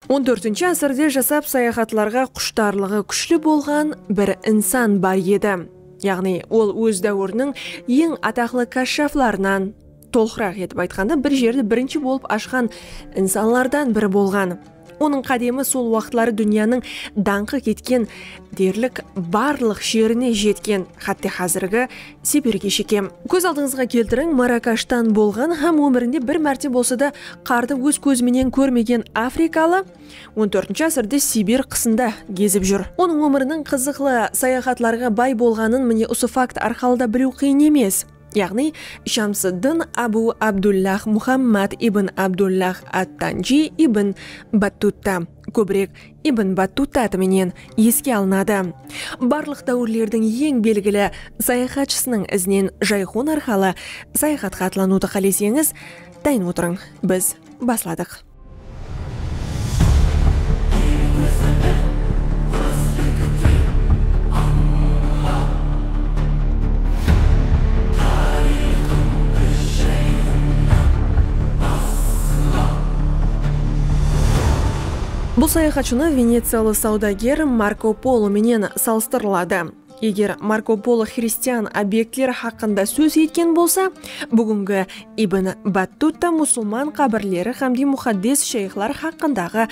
On tórtinshi ásirde jasap sayaxatlarǵa qushtarlıǵı kúshli bolǵan bir insan bar edi. Yaǵnıy, ol óz dáwiriniń eń ataqlı káshshaflarınan, tolqıraq etip aytqanda, bir jerdi birinshi bolıp ashqan insanlardan biri bolǵan. Onıń qádemi sol waqıtları dúnyanıń dańqı ketken derlik barlıq jerine jetken, xátte xázirgi Sibirge shekem. Kóz aldıńızǵa keltiriń, Marrakashtan bolǵan hám ómirinde bir márte bolsa da qardı óz kózi menen kórmegen afrikalı on tórtinshi ásirde Sibir qısında gezip júr. Onıń ómiriniń qızıqlı, sayaxatlarǵa bay bolǵanın mine usı fakt arqalı da biliw qıyın emes. Yaǵnıy, Shamsıddın Abu Abdullah Muhammad ibn Abdullah at-Tanji ibn Battutta. kóbirek Ibn Battuta menen eske alınadı. Barlıq dáwirlerdiń eń belgili sayaxatshısınıń izinen jayxon arqalı sayaxatqa atlanıwdı qáleseńiz, dayın otırıń, biz basladıq. Bul sayaxatshını veneciyalı sawdager Marko Polo menen salıstırıladı. Eger Marko Polo xristian obektleri haqqında sóz etken bolsa, búgingi Ibn Battutta musılman qábirleri xámde muxaddes shayxlar haqqındaǵı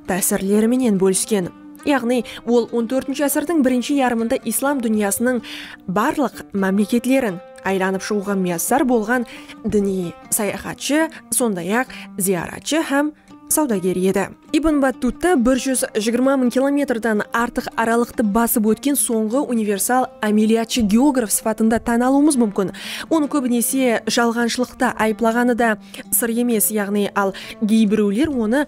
tásirleri menen bólisken. Yaǵnıy, ol on tórtinshi ásirdiń birinshi yarımında islam dúnyasınıń barlıq mámleketlerin aylanıp shıǵıwǵa miyassar bolǵan diniy sayaxatshı, sonday-aq, zıyaratshı hám sawdager edi. Ibn Battutta bir júz jigirma mıń kilometrden artıq aralıqtı basıp ótken sońǵı universal ámeliyatshı-geograf sıpatında tán alıwımız múmkin. Onı kóbinese jalǵanshılıqta ayıplaǵanı da sır emes, yaǵnıy al geybirewler onı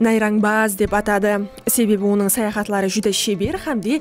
nayrańbaz dep atadı, sebebi onıń sayaxatları júdá sheber hám de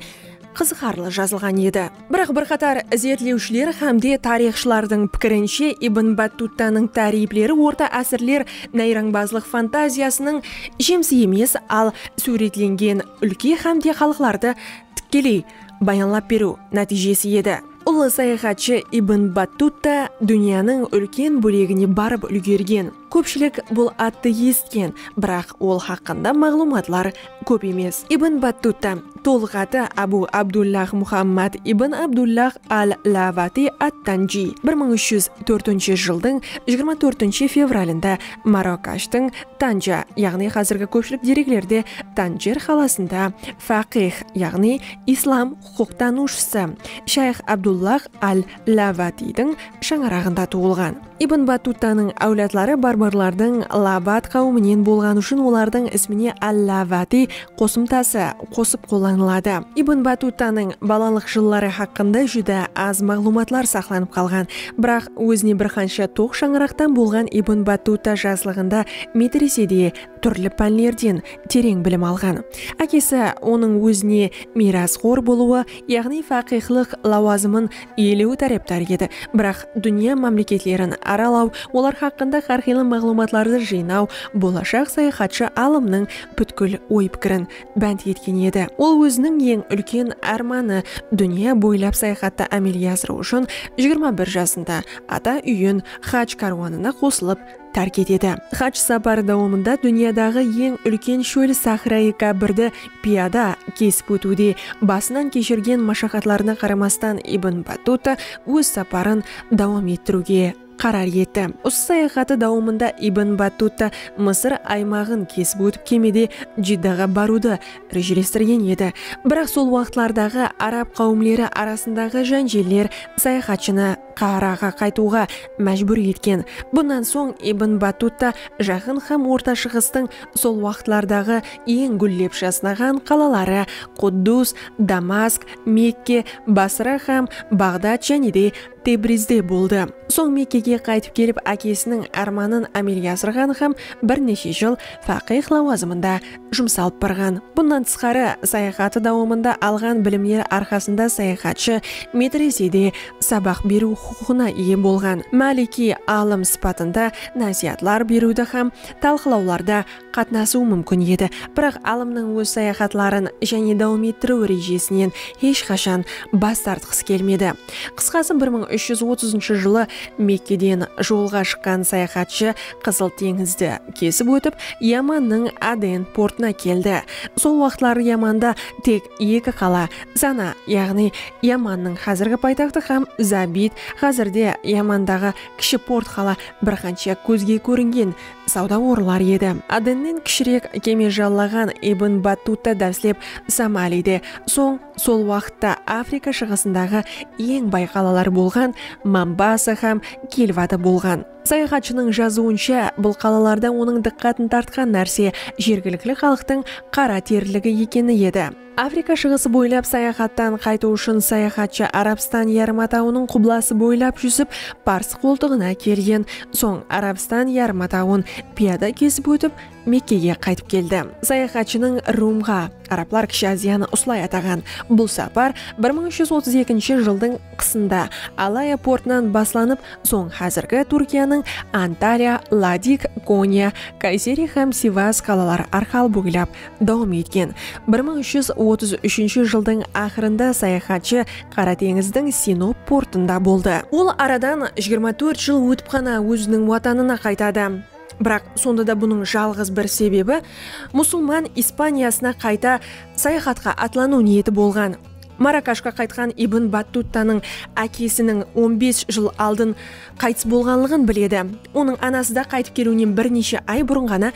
qızıqarlı jazılǵan edi. Biraq bir qatar izertlewshiler hámde tariyxshılardıń pikirinshe Ibn Battuttanıń táriyipleri orta ásirler nayrańbazlıq fantaziyasınıń jemisi emes, al súwretlengen úlke hámde xalıqlardı tikkeley bayanlap beriw nátiyjesi edi. Ullı sayaxatshı Ibn Battuta dúnyanıń úlken bólegine barıp úlgergen. Kópshilik bul attı esitken, biraq ol haqqında maǵlıwmatlar kóp emes. Ibn Battuta, tolıq atı Abu Abdullah Muhammad ibn Abdullah al-Lawati at-Tanji, bir mıń úsh júz tórtinshi jıldıń jigirma tórtinshi fevralında Marrakashtıń Tanja, yaǵnıy házirgi kópshilik dereklerde Tanjer qalasında faqih, yaǵnıy islam huqıqtanıwshısı shayx Abdullah al-Lavatiydiń shańaraǵında tuwılǵan. Ibn Battutanıń áwladları barbarlardıń Lavat qáwiminen bolǵanı ushın olardıń ismine al-Lavatiy qosımtası qosıp qollanıladı. Ibn Battutanıń balalıq jılları haqqında júdá az maǵlıwmatlar saqlanıp qalǵan. Biraq ózine bir qansha toq shańaraqtan bolǵan Ibn Battuta jaslıǵında metresede túrli pánlerden tereń bilim alǵan. Ákesi onıń ózine miyrasxor bolıwı, yaǵnıy faqıyxlıq lawazımın iyelewi tárepdarı edi. Biraq dúnya mámleketlerin aralaw, olar haqqında hár qıylı maǵlıwmatlardı jıynaw bolashaq sayaxatshı alımnıń pútkil oy-pikirin bánt etken edi. Ol óziniń eń úlken ármanı, dúnya boylap sayaxattı ámelge asırıw ushın jigirma bir jasında ata úyin haj kárwanına qosılıp tárk etedi. Haj saparı dawamında dúnyadaǵı eń úlken shól sahrayı Kábirdi piyada kesip ótiwde basınan keshirgen mashaqatlarına qaramastan Ibn Battuta óz saparın dawam ettiriwge qarar etti. Usı sayaxatı dawamında Ibn Battuta Mısır aymaǵın kesip ótip kemede Jiddaǵa barıwdı rejelestirgen edi. Biraq sol waqıtlardaǵı arab qáwimleri arasındaǵı jánjeller sayaxatshını. Qaharaǵa qaytıwǵa májbúr etken. Bunnan soń Ibn Battuta Jaqın hám Orta Shıǵıstıń sol waqıtlardaǵı eń gúllep jasnaǵan qalaları Quddus, Damask, Mekke, Basra hám Baǵdad jáne de Tebrizde boldı. Soń Mekkege qaytıp kelip ákesiniń ármanın ámelge asırǵan hám bir neshe jıl faqih lawazımında jumsalıp barǵan. Bunnan tısqarı, sayaxatı dawamında alǵan bilimleri arqasında sayaxatshı medresede sabaq beriw huqıqına iye bolǵan. Máliki alım sıpatında násiyatlar beriwdi hám talqılawlarda qatnasıwı múmkin edi, biraq alımnıń óz sayaxatların jáne dawam ettiriw rejesinen hesh qashan bas tartqısı kelmedi. Qısqası, bir mıń úsh júz otızınshı jılı Mekkeden jolǵa shıqqan sayaxatshı Qızıl teńizdi kesip ótip, Yamannıń Aden portına keldi. Sol waqıtları Yamanda tek eki qala, Sana, yaǵnıy Yamannıń xázirgi paytaxtı hám Zabid, xázirde Yamandaǵı kishi port qala bir qansha kózge kóringen sawda orınlar edi. Adennen kishirek keme jallaǵan Ibn Battuta dáslep Somalide, soń sol waqıtta Afrika shıǵısındaǵı eń bay qalalar bolǵan Mambasa hám Kilvada bolǵan. Sayaxatshınıń jazıwınsha, bul qalalarda onıń dıqqatın tartqan nárse jergilikli xalıqtıń qara teriligi ekeni edi. Afrika shıǵısı boylap sayaxattan qaytıw ushın sayaxatshı Arabstan yarım atawınıń qublası boylap júzip, Pars qoltıǵına kelgen soń Arabstan yarım atawın piyada kesip ótip, Mekkege qaytıp keldi. Sayaxatshınıń Rumǵa, arablar Kishi Aziyanı usılay ataǵan, bul sapar bir mıń úsh júz otız ekinshi jıldıń qısında Alaya portınan baslanıp, soń házirgi Túrkiyanıń Antalya, Ladik, Konya, Kayseri hám Sivas qalaları arqalı boylap dawam etken. Bir mıń úsh júz otız úshinshi jıldıń aqırında sayaxatshı Qara teńizdiń Sinop portında boldı. Ol aradan jigirma tórt jıl ótip ǵana óziniń watanına qaytadı. Biraq, sonda da bunıń jalǵız bir sebebi, musulman Ispaniyasına qayta sayaxatqa atlanıw niyeti bolǵan. Marakashqa qaytqan Ibn Battuttanıń ákesiniń on bes jıl aldın qaytıs bolǵanlıǵın biledi. Onıń anası da qaytıp keliwinen bir neshe ay burın ǵana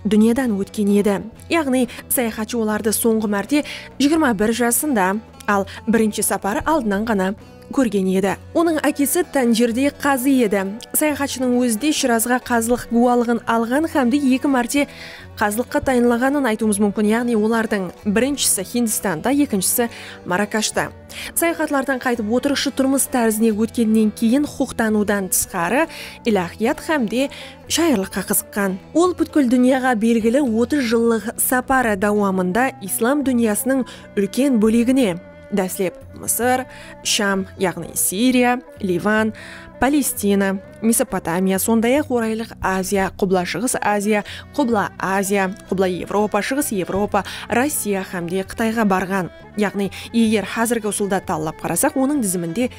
dúnyadan ótken edi. Yaǵnıy, sayaxatshı olardı sońǵı márte jigirma bir jasında, al birinshi saparı aldınan ǵana. kórgen edi. Onıń ákesi Tanjirde qazı edi. Sayaxatshınıń ózi de Shirazǵa qazılıq gúwalıǵın alǵan xámde eki márte qazılıqqa tayınlaǵanın aytıwımız múmkin, yaǵnıy olardıń birinshisi Hindistanda, ekinshisi Marakashta. Sayaxatlardan qaytıp otırıqshı turmıs tárzine ótkennen keyin huqıqtanıwdan tısqarı ilahiyat xámde shayırlıqqa qızıqqan. Ol pútkil dúnyaǵa belgili otız jıllıq saparı dawamında islam dúnyasınıń úlken bólegine, Dáslep Mısır, Sham, yaǵnıy Siriya, Livan, Palestina, Mesopotamiya, sonday-aq Oraylıq Aziya, Qubla-Shıǵıs Aziya, Qubla Aziya, Qubla Evropa, Shıǵıs Evropa, Rossiya hám de Qıtayǵa barǵan. Yaǵnıy, eger házirgi usılda tallap qarasaq, onıń diziminde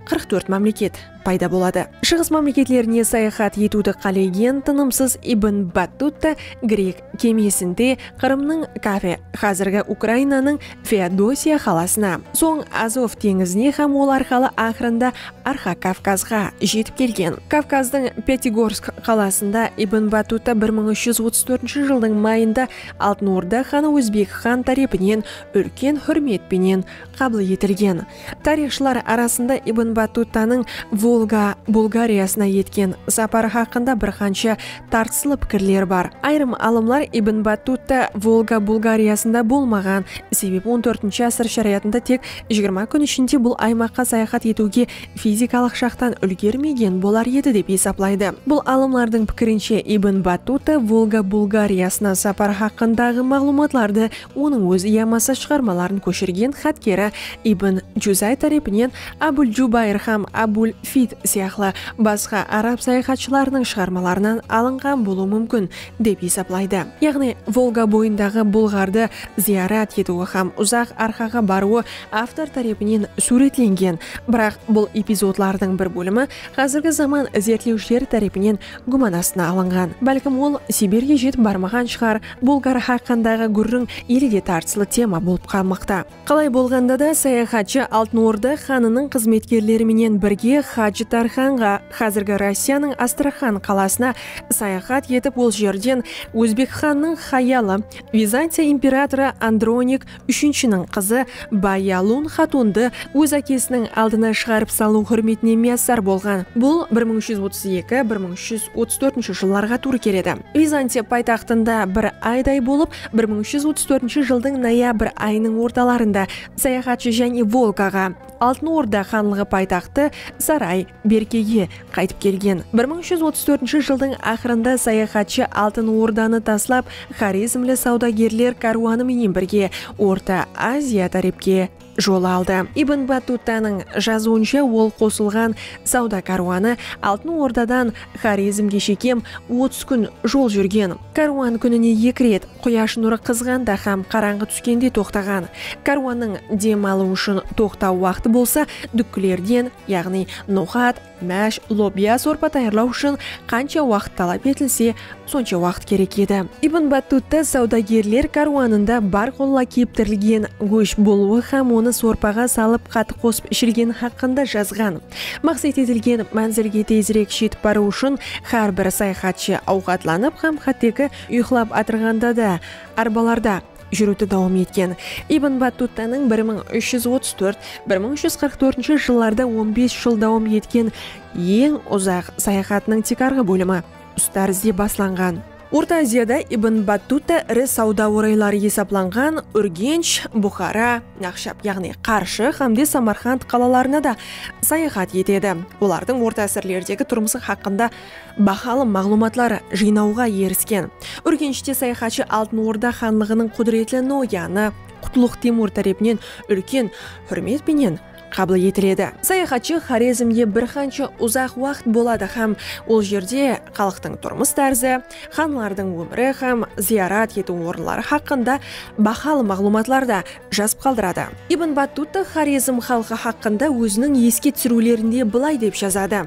qırq tórt mámleket payda boladı. Shıǵıs mámleketlerine sayaxat etiwdi qálegen tınımsız Ibn Battuta grek kemesinde Qırımnıń Kafe, házirgi Ukrainanıń Feodosiya qalasına, soń Azov teńizine hám ol arqalı aqırında Arxa Kavkazǵa jetip kelgen. Kavkazdıń Pyatigorsk qalasında Ibn Batuta bir mıń úsh júz otız tórtinshi jıldıń mayında Altın Orda xanı Ózbek xan tárepinen úlken húrmet penen qabıl etilgen. Tariyxshılar arasında Ibn Batuttanıń Volga Bulgariyasına etken saparı haqqında bir qansha tartıslı pikirler bar. Ayırım alımlar Ibn Battutta Volga Bulgariyasında bolmaǵan, sebebi on tórtinshi ásir sharayatında tek jigirma kún ishinde bul aymaqqa sayaxat etiwge fizikalıq jaqtan úlgermegen bolar edi dep esaplaydı. Bul alımlardıń pikirinshe, Ibn Battuta Volga Bulgariyasına saparı haqqındaǵı maǵlıwmatlardı Onıń ózi yamasa shıǵarmaların kóshirgen xatkeri Ibn Juzay tárepinen Abul Jubayr hám Abul Fid sıyaqlı basqa arab sayaxatshılarınıń shıǵarmalarınan alınǵan bolıwı múmkin, dep esaplaydı. Yaǵnıy, Volga boyındaǵı bulǵardı zıyarat etiwi hám uzaq arqaǵa barıwı avtor tárepinen súwretlengen, biraq bul epizodlardıń bir bólimi házirgi zaman izertlewshileri tárepinen gúman astına alınǵan. Bálkim ol Sibirge jetip barmaǵan shıǵar, Bulgar haqqındaǵı gúrriń ele de tartıslı tema bolıp qalmaqta. Qalay bolǵanda da, sayaxatshı Altın Orda xanınıń xızmetkerleri menen birge Hajı Tarxanǵa, xázirgi Rossiyanıń Astraxan qalasına, sayaxat etip ol jerden Ózbek xanınıń xayalı, Vizantiya imperatorı Andronik Úshinshiniń qızı Bayalun xatundı óz ákesiniń aldına shıǵarıp salıw húrmetine miyassar bolǵan. Bul bir mıń úsh júz otız eki, bir mıń úsh júz otız tórtinshi jıllarǵa tuwrı keledi. Vizantiya paytaxtında bir ayday bolıp, bir mıń úsh júz otız tórtinshi jıldıń noyabr ayınıń ortalarında sayaxatshı Jáne Volgaǵa, Altın Orda xanlıǵı paytaxtı Saray, Berkege, qaytıp kelgen. Bir mıń úsh júz otız tórtinshi jıldıń aqırında sayaxatshı Altın Ordanı taslap, xorezmli sawdagerler kárwanı menen birge Orta Aziya tárepke jol aldı. Ibn Battutanıń jazıwınsha, ol qosılǵan sawda kárwanı Altın Ordadan Xorezmge shekem otız kún jol júrgen. Kárwan kúnine eki ret, quyash nurı qızǵanda hám qarańǵı túskende toqtaǵan. Kárwannıń dem alıw ushın toqtaw waqtı bolsa dúkkilerden, yaǵnıy noxat, másh, lobya sorpa tayarlaw ushın qansha waqıt talap etilse, sonsha waqıt kerek edi. Ibn Battutta sawdagerler kárwanında bar qulla keptirilgen gósh bolıwı hám onı sorpaǵa salıp qatı qosıp ishilgeni haqqında jazǵan. Maqset etilgen mánzilge tezirek jetip barıw ushın hár bir sayaxatshı awqatlanıp hám hátteki uyıqlap atırǵanda da arbalarda júriwdi dawam etken. Ibn Battuttanıń bir mıń úsh júz otız tórt, bir mıń úsh júz qırq tórtinshi jıllarda on bes jıl dawam etken eń uzaq sayaxatınıń tiykarǵı bólimi Ustarizde baslanǵan. Orta Aziyada Ibn Battuta iri sawda orayları esaplanǵan Úrgensh, Buxara, Naqshab yaǵnıy Qarshı hámde Samarqand qalalarına da sayaxat etedi, olardıń orta ásirlerdegi turmısı haqqında bahalı maǵlıwmatlar jıynawǵa erisken. Úrgenshte sayaxatshı Altın Orda xanlıǵınıń qúdiretli noyanı Qutluq Temur tárepinen úlken húrmet penen qabıl etiledi. Sayaxatshı Xorezmde bir qansha uzaq waqıt boladı hám ol jerde xalıqtıń turmıs tárzi, xanlardıń ómiri hám zıyarat etiw orınları haqqında bahalı maǵlıwmatlardı jazıp qaldıradı. Ibn Battutta Xorezm xalqı haqqında óziniń eske túsiriwlerinde bılay dep jazadı,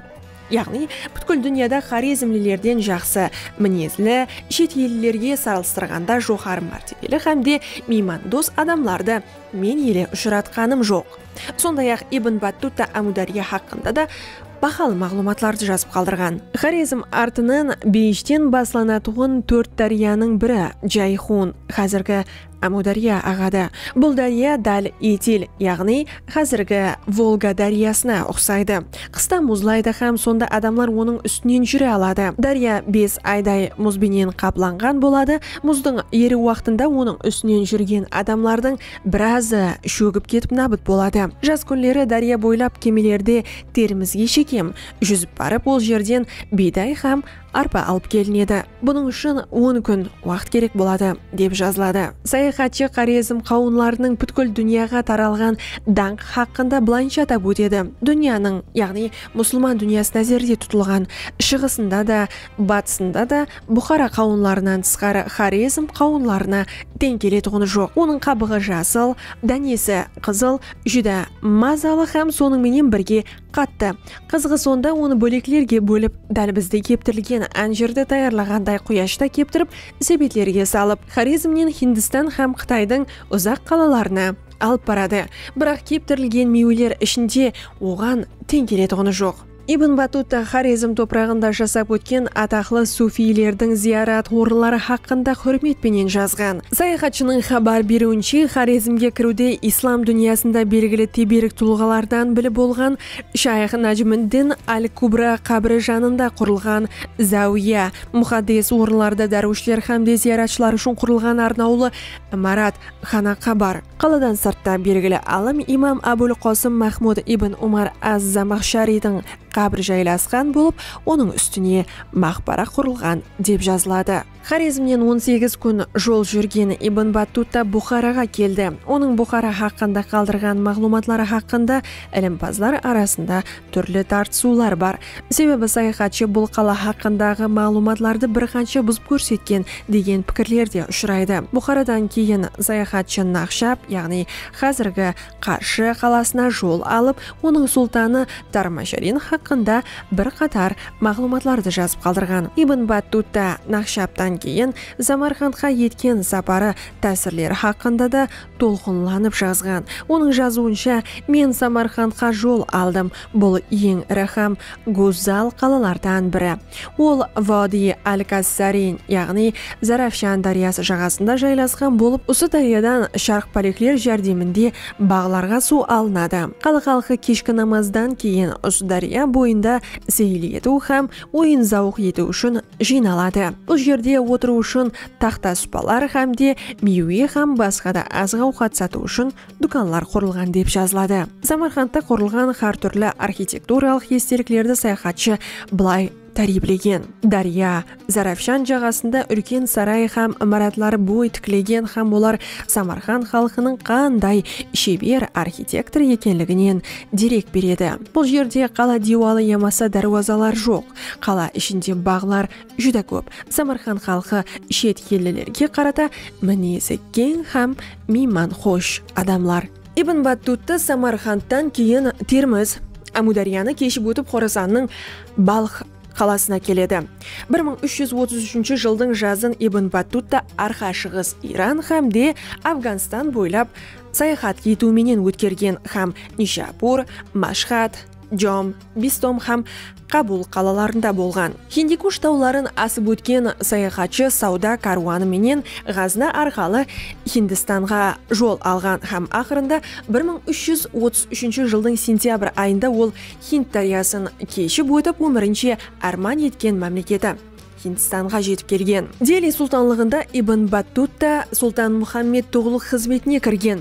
Yaǵnıy pútkil dúnyada xorezmlilerden jaqsı minezli, shet ellilerge sarılstırǵanda joqarı mártebeli hám de miymandos adamlardı Men ele ushıratqanım joq. Sonday-aq, Ibn Battuta Ámudárya haqqında da bahalı maǵlıwmatlardı jazıp qaldırǵan. Xorezm artınan Beyishten baslanatuǵın tórt dáryanıń biri Jayxun, xázirgi Ámudárya, aǵadı. Bul dárya dál Etil, yaǵnıy xázirgi Volga dáryasına uqsaydı. Qısta muzlaydı hám sonda adamlar onıń ústinen júre aladı. Dárya bes ayday muz benen qaplanǵan boladı, muzdıń eriw waqtında onıń ústinen júrgen adamlardıń birazı shógip ketip nabıt boladı. Jaz kúnleri dárya boylap kemelerde terimizge shekem júzip barıp ol jerden biyday hám Arpa alıp kelinedi. Bunıń ushın on kún waqıt kerek boladı, dep jazıladı. Sayaxatshı Xorezm qawınlarınıń pútkil dúnyaǵa taralǵan dańqı haqqında bılayınsha atap ótedi, Dúnyanıń, yaǵnıy musılman dúnyası názerde tutılǵan Shıǵısında da, Batısında da Buxara qawınlarınan tısqarı Xorezm qawınlarına teń keletuǵını joq. Onıń qabıǵı jasıl, dánesi qızıl, júdá mazalı hám sonıń menen birge Qattı qızıǵı sonda onı bóleklerge bólip, dál bizde keptirilgen ánjirdi tayarlaǵanday quyashta keptirip, sebetlerge salıp, Xorezmnen Hindistan hám Qıtaydıń uzaq qalalarına alıp baradı. Biraq keptirilgen miyweler ishinde oǵan teń keletuǵını joq. Ibn Battuta Xorezm topıraǵında jasap ótken ataqlı sufiylerdiń zıyarat orınları haqqında húrmet penen jazǵan. Sayaxatshınıń xabar beriwinshe, Xorezmge kiriwde islam dúnyasında belgili teberik tulǵalardan bili bolǵan shayx Najmiddin al-Kubra qábiri janında qurılǵan záwiya, muxaddes orınlarda dárwishler hámde zıyaratshılar ushın qurılǵan arnawlı imarat, xanaqa, bar. Qaladan sırtta belgili alim imam Abul Qosım Mahmud ibn Umar az-Zamaxshariydiń qábiri jaylasqan bolıp, onıń ústine maqbara qurılǵan, dep jazıladı. Xorezmnen on segiz kún jol júrgen Ibn Battuta Buxaraǵa keldi. Onıń Buxara haqqında qaldırǵan maǵlıwmatları haqqında ilimpazlar arasında túrli tartısıwlar bar. Sebebi sayaxatshı bul qala haqqındaǵı maǵlıwmatlardı bir qansha buzıp kórsetken degen pikirler de ushıraydı. Buxaradan keyin sayaxatshı Naxshab, yaǵnıy házirgi Qarshı qalasına jol alıp, onıń sultanı Tarmajarin haqqında bir qatar maǵlıwmatlardı jazıp qaldırǵan. Ibn Battuta Naqshabdan keyin Zamarqandqa etken saparı tásirleri haqqında da tolqınlanıp jazǵan. Onıń jazıwınsha, Men Samarqandqa jol aldım. Bul eń iri hám gózzal qalalardan biri. Ol Vodiy al-Kazzarin, yaǵnıy Zarafshan dáryası jaǵasında jaylasqan bolıp, usı dáryadan sharq pálekler járdeminde baǵlarǵa suw alınadı. Qala xalqı keshki namazdan keyin usı dárya boyında seyil etiw hám oyın-zawıq etiw ushın jıynaladı. Bul jerde otırıw ushın taxta-supalar hám de miywe hám basqa da azıq-awqat satıw ushın dúkanlar qurılǵan dep jazıladı. Samarqandta qurılǵan hár túrli arxitekturalıq esteliklerdi sayaxatshı bılay táriyiplegen, Dárya, Zarafshan jaǵasında úlken saray hám imaratlar boy tiklegen hám olar Samarqand xalqınıń qanday sheber arxitektor ekenliginen derek beredi. Bul jerde qala diywalı yamasa dárwazalar joq. Qala ishinde baǵlar júdá kóp. Samarqand xalqı shet ellilerge qarata minezi keń hám Miyman xosh adamlar. Ibn Battuta Samarqandtan keyin Termiz, Ámudaryanı keship ótip Xorasannıń Balx qalasına keledi. Bir mıń úsh júz otız úshinshi jıldıń jazın Ibn Battuta Arqa Shıǵıs Iran hám de Afganstan boylap sayaxat etiw menen ótkergen hám Nishapur, Mashxad, Jom, Bistom hám Kabul qalalarında bolǵan. Hindikush tawların asıp ótken sayaxatshı sawda kárwanı menen Ǵazna arqalı Hindistanǵa jol alǵan hám aqırında bir mıń úsh júz otız úshinshi jıldıń sentyabr ayında ol Hind dáryasın keship ótip ómirinshe árman etken mámleketi Hindistanǵa jetip kelgen. Deli sultanlıǵında Ibn Battuta Sultan Muhammed Tuǵluq xızmetine kirgen.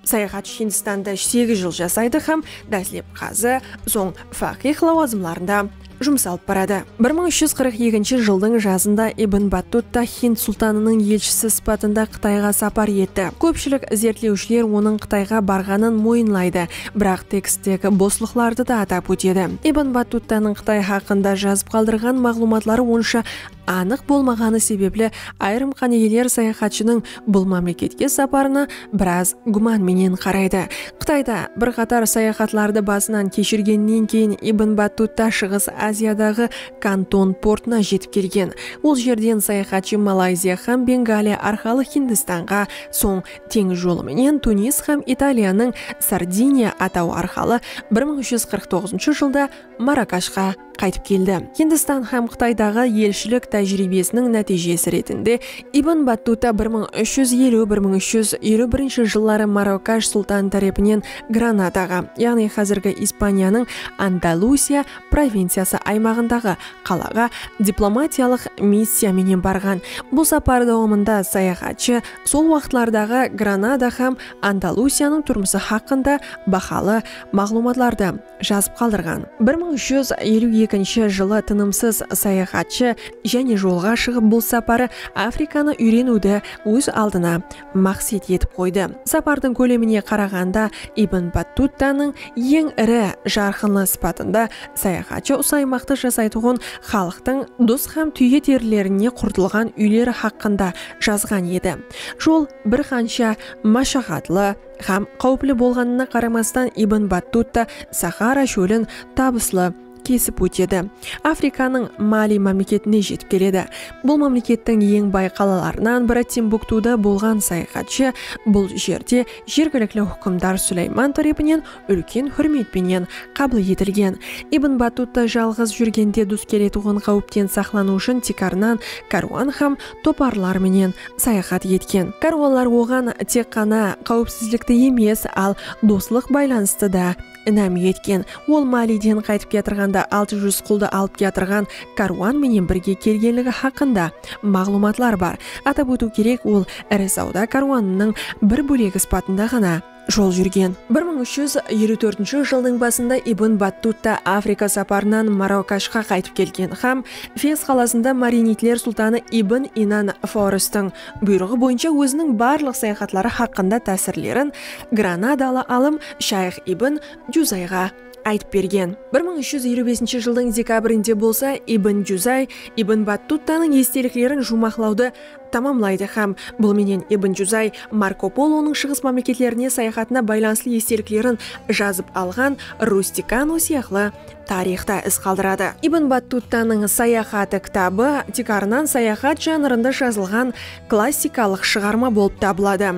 Sayaxatshı Hindistanda segiz jıl jasaydı hám dáslep qazı, soń faqih lawazımlarında jumıs alıp baradı. Bir mıń úsh júz qırq ekinshi jıldıń jazında Ibn Battuta Hind sultanınıń elshisi sıpatında Qıtayǵa sapar etti. Kópshilik izertlewshiler onıń Qıtayǵa barǵanın moyınlaydı, biraq teksttegi boslıqlardı da atap ótedi. Ibn Battutanıń Qıtay haqqında jazıp qaldırǵan maǵlıwmatları onsha anıq bolmaǵanı sebepli ayırım qánigeler sayaxatshınıń bul mámleketke saparına biraz gúman menen qaraydı. Qıtayda bir qatar sayaxatlardı basınan keshirgennen keyin Ibn Battutta Shıǵıs Aziyadaǵı Kanton portına jetip kelgen. Ol jerden sayaxatshı Malayziya hám Bengaliya arqalı Hindistanǵa, soń teńiz jolı menen Tunis hám Italiyanıń Sardiniya atawı arqalı bir mıń úsh júz qırq toǵızınshı jılda Marakashqa qaytıp keldi. Hindistan hám Qıtaydaǵı elshilik tájiriybesiniń nátiyjesi retinde Ibn Battuta bir mıń úsh júz eliw, bir mıń úsh júz eliw birinshi jılları Marokash sultanı tárepinen Granadaǵa, yaǵnıy házirgi Ispaniyanıń Andalusiya provinciyası aymaǵındaǵı qalaǵa diplomatiyalıq missiya menen barǵan. Bul sapar dawamında sayaxatshı sol waqıtlardaǵı Granada hám Andalusiyanıń turmısı haqqında bahalı maǵlıwmatlardı, jazıp qaldırǵan. Bir mıń júz eliw ekinshi jılı tınımsız sayaxatshı jáne jolǵa shıǵıp bul saparı Afrikanı úyreniwdi óz aldına maqset etip qoydı. Sapardıń kólemine qaraǵanda Ibn Battuttanıń eń iri jarqınlı sıpatında sayaxatshı usı aymaqtı jasaytuǵın xalıqtıń dus hám túye derilerine qurtılǵan úyleri haqqında jazǵan edi. Jol bir qansha mashaqatlı, Hám qáwipli bolǵanına qaramastan Ibn Battuta Saxara shólin tabıslı kesip ótedi. Afrikanıń Mali mámleketine jetip keledi. Bul mámlekettiń eń bay qalalarınan biri Timbuktuda bolǵan sayaxatshı bul jerde jergilikli húkimdar Súlayman tárepinen úlken húrmet penen qabıl etilgen. Ibn Battuta jalǵız júrgende dus keletuǵın qáwipten saqlanıw ushın tiykarınan kárwan hám toparlar menen sayaxat etken. Kárwanlar oǵan tek ǵana qáwipsizlikti emes, al doslıq baylanıstı da inam etken. Ol Maliden qaytıp kiyatırǵanda altı júz quldı alıp kiyatırǵan kárwan menen birge kelgenligi haqqında maǵlıwmatlar bar. Atap ótiw kerek, ol iri sawda kárwanınıń bir bólegi sıpatında ǵana jol júrgen. Bir mıń úsh júz eliw tórtinshi jıldıń basında Ibn Battutta Afrika saparınan Marrakashqa qaytıp kelgen hám Fes qalasında marinidler sultanı Ibn Inan Foristiń buyrıǵı boyınsha óziniń barlıq sayaxatları haqqında tásirlerin granadalı alım shayx Ibn Juzayǵa aytıp bergen. Bir mıń úsh júz eliw besinshi jıldıń dekabrinde bolsa Ibn Juzay Ibn Battuttanıń esteliklerin juwmaqlawdı tamamlaydı hám bul menen Ibn Juzay Marko Polonıń Shıǵıs mámleketlerine sayaxatına baylanıslı esteliklerin jazıp alǵan Rusticano sıyaqlı tariyxta iz qaldıradı. Ibn Battuttanıń Sayaxatı kitabı tiykarınan sayaxat janrında jazılǵan klassikalıq shıǵarma bolıp tabıladı.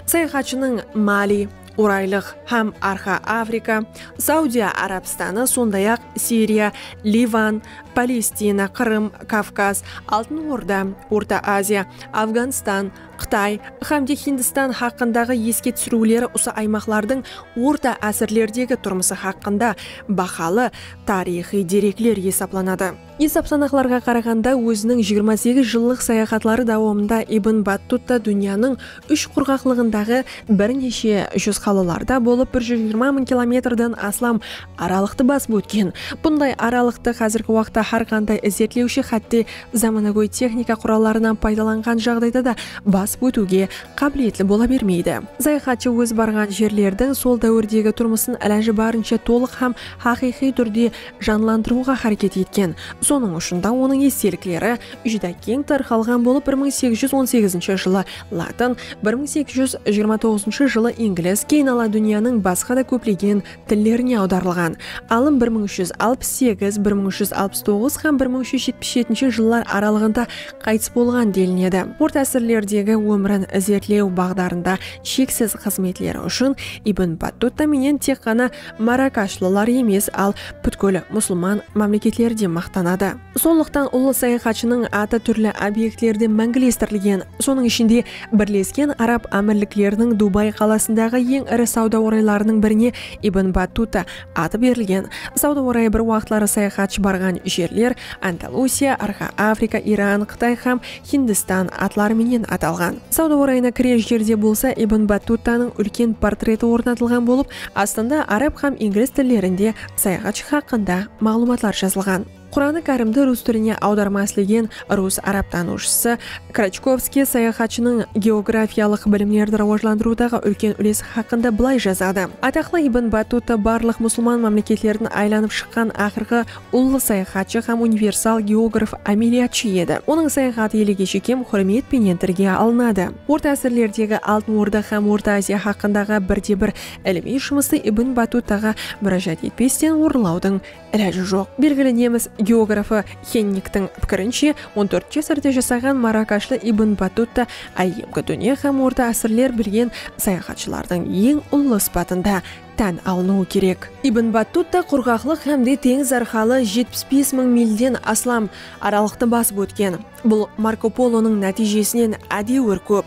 Sayaxatshınıń máli, Oraylıq hám Arqa Afrika, Saudiya Arabstanı, sonday-aq, Siriya, Livan, Palestina, Qırım, Kavkaz, Altın Orda, Orta Aziya, Afǵanstan, Qıtay hám de Hindistan haqqındaǵı eske túsiriwleri usı aymaqlardıń orta ásirlerdegi turmısı haqqında bahalı tariyxıy derekler esaplanadı. Esap-sanaqlarǵa qaraǵanda, óziniń jigirma segiz jıllıq sayaxatları dawamında Ibn Battutta dúnyanıń úsh qurǵaqlıǵındaǵı bir neshe júz qalalarda bolıp bir júz jigirma mıń kilometrden aslam aralıqtı basıp ótken. Bunday aralıqtı házirgi waqıtta hár qanday izertlewshi hátte zamanagóy texnika qurallarınan paydalanǵan jaǵdayda da basıp ótiwge qábiliyetli bola bermeydi. Sayaxatshı óz barǵan jerlerdiń sol dáwirdegi turmısın ilajı barınsha tolıq hám haqıyqıy túrde janlandırıwǵa háreket etken. Sonıń ushın da onıń estelikleri júdá keń tarqalǵan bolıp bir mıń segiz júz on segizinshi jılı latın, bir mıń segiz júz jigirma toǵızınshı jılı inglis, keyin ala dúnyanıń basqa da kóplegen tillerine awdarılǵan. Alım bir mıń úsh júz alpıs segiz, bir mıń úsh júz alpıs toǵız hám bir mıń úsh júz jetpis jetinshi jıllar aralıǵında qaytıs bolǵan delinedi. Orta ásirlerdegi ómirin izertlew baǵdarında sheksiz xızmetleri ushın Ibn Battuta menen tek ǵana Marakashlılar emes, al pútkil musılman mámleketleri de maqtanadı. Sonlıqtan ullı sayaxatshınıń atı túrli obektlerde máńgilestirilgen, sonıń ishinde, Birlesken Arab Ámirlikleriniń Dubay qalasındaǵı eń iri sawda oraylarınıń birine Ibn Battuta atı berilgen. Sawda orayı bir waqıtları sayaxatshı barǵan jerler Andalusiya, Orxa Afrika, Iran, Qıtay hám Hindistan, atları menen atalǵan. Sawda orayına kirер jerde bolsa Ibn Battuttanıń úlken portreti ornatılǵan bolıp, astında arab hám inglis tillerinde sayaxatshı haqqında maǵlıwmatlar jazılǵan. Quranı kárimdi rus tiline awdarma islegen rus arab tanıwshısı Krachkovskiy sayaxatshınıń geografiyalıq bilimlerdi rawajlandırıwdaǵı úlken úlesi haqqında bılay jazadı, Ataqlı Ibn Battutta barlıq musılman mámleketlerin aylanıp shıqqan aqırǵı ullı sayaxatshı hám universal geograf ámeliyatshı edi. Onıń sayaxat eligi shekem húrmet penen tilge alınadı. Orta ásirlerdegi Altın Orda hám Orta Aziya haqqındaǵı birde-bir ilimiy jumıstı Ibn Batutaǵa múrájat etpesten orınlawdıń ilajı joq. Belgili nemis geografı Xenniktiń pikirinshe, on tórt ásirde jasaǵan marakashlı Ibn Batuta áyyemgi dúnya hám orta ásirler bilgen sayaxatshılardıń eń ullı sıpatında tán alınıwı kerek. Ibn Battuta qurǵaqlıq hám de teńiz arqalı jetpis bes mıń milden aslam aralıqtı basıp ótken. Bul Marko Polonıń nátiyjesinen ádewir kóp.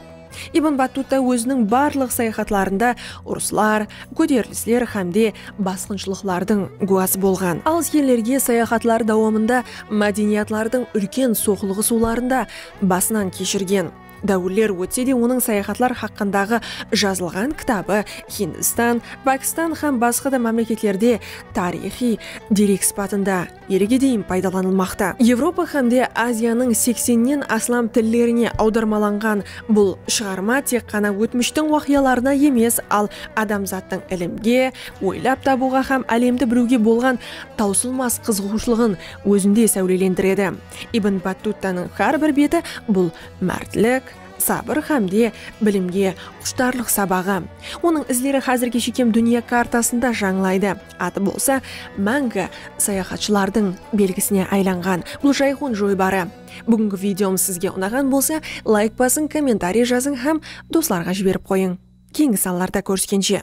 Ibn Battuta óziniń barlıq sayaxatlarında urıslar, kóterilisler hám de basqınshılıqlardıń gúwası bolǵan. Al iskenlerge sayaxatları dawamında mádeniyatlardıń úlken soqlıǵısıwların da basınan keshirgen. Dáwirler ótse de onıń sayaxatlar haqqındaǵı jazılǵan kitabı Hindistan, Pakistan hám basqa da mámleketlerde tariyxıy derek sıpatında elge deyin paydalanılmaqta. Evropa hám de Aziyanıń seksennen aslam tillerine awdarmalanǵan bul shıǵarma tek ǵana ótmishtiń waqıyalarına emes, al adamzattıń ilimge, oylap tabıwǵa hám álemdi biliwge bolǵan tawsılmas qızıǵıwshılıǵın ózinde sáwlelendiredi. Ibn Battuttanıń hár bir beti bul mártlik, sabır hámde bilimge qushtarlıq sabaǵı. Onıń izleri házirge shekem dúnya kartasında jańlaydı, atı bolsa máńgi sayaxatshılardıń belgisine aylanǵan bul jayxun joybarı. Búgingi videomız sizge unaǵan bolsa, layk basıń, kommentariy jazıń hám doslarǵa jiberip qoyıń. Keyingi sanlarda kóriskenshe!